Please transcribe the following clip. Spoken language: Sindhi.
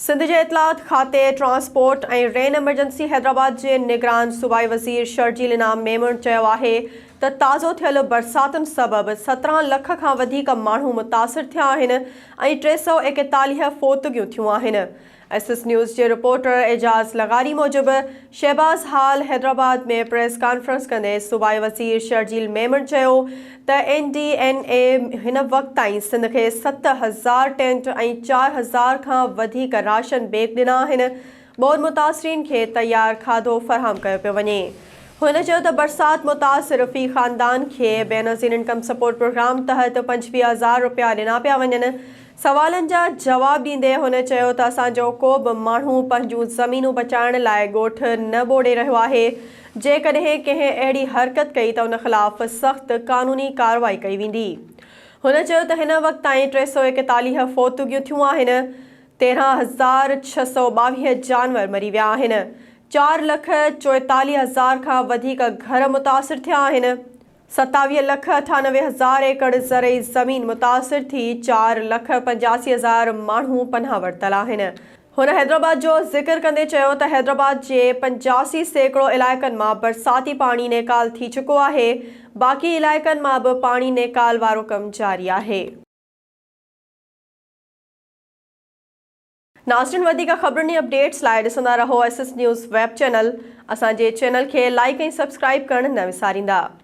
سنڌ جي اطلاعات کاتي، ٽرانسپورٽ ۽ رين ايمرجنسي حيدرآباد جي نگران صوبائي وزير شرجيل انعام ميمڻ چيو آهي ته تازو ٿيل برساتن سبب سترهن لک کان وڌيڪ ماڻهو متاثر ٿيا آهن ۽ ٽي سؤ ايڪيتاليهه فوتگيون ٿيون آهن. ايس ايس نيوز جي رپورٽر اعجاز لغاري موجب شهباز حال حيدرآباد ۾ پريس ڪانفرنس ڪندي صوبائي وزير شرجيل ميمڻ چيو ته اين ڊي اين اي هن وقت تائين سنڌ کي ست هزار ٽينٽ ۽ چار هزار کان وڌيڪ راشن بيگ ڏنا آهن، ٻوڏ متاثرين کي تيار کاڌو فراهم ڪيو پيو وڃي. هن چيو ته برسات متاثر في خاندان کي بينظير انڪم سپورٽ پروگرام تحت پنجويهه هزار رپيا ڏنا پيا وڃن، سوالن جا جواب ڏيندي هن چيو ته اسان جو ڪو به ماڻهو پنهنجون زمينون بچائڻ لاء ڳوٺ نه ٻوڏي رهيو آهي، جيڪڏهن ڪنهن اهڙي حرڪت ڪئي ته ان خلاف سخت قانوني ڪارروائي ڪئي ويندي. هن چيو ته هن وقت تائين ٽي سؤ ايڪيتاليهه فوتگيون ٿيون آهن، تيرهن هزار ڇهه سؤ ٻاويهه جانور مري ويا آهن، چار لک چوئيتاليهه هزار کان وڌيڪ گهر متاثر ٿيا آهن، ستاويهه لک اٺانوي هزار ايڪڙ زرعي زمين متاثر ٿي، چار لک پنجاسي هزار ماڻهو پناهه ورتل آهن. هن حيدرآباد جو ذڪر ڪندي چيو ته حيدرآباد جي پنجاسي سيڪڙو علائقن مان برساتي پاڻي نيڪال ٿي چڪو آهي، باقي علائقن مان به پاڻي نيڪال وارو ڪم جاري آهي. ناظرين وڌيڪ خبرن ۽ اپڊيٽس لاء ڏسندا رهو S S news web channel, اسان جي چينل کي لائيڪ ۽ سبسڪرائيب ڪرڻ نه وساريندا.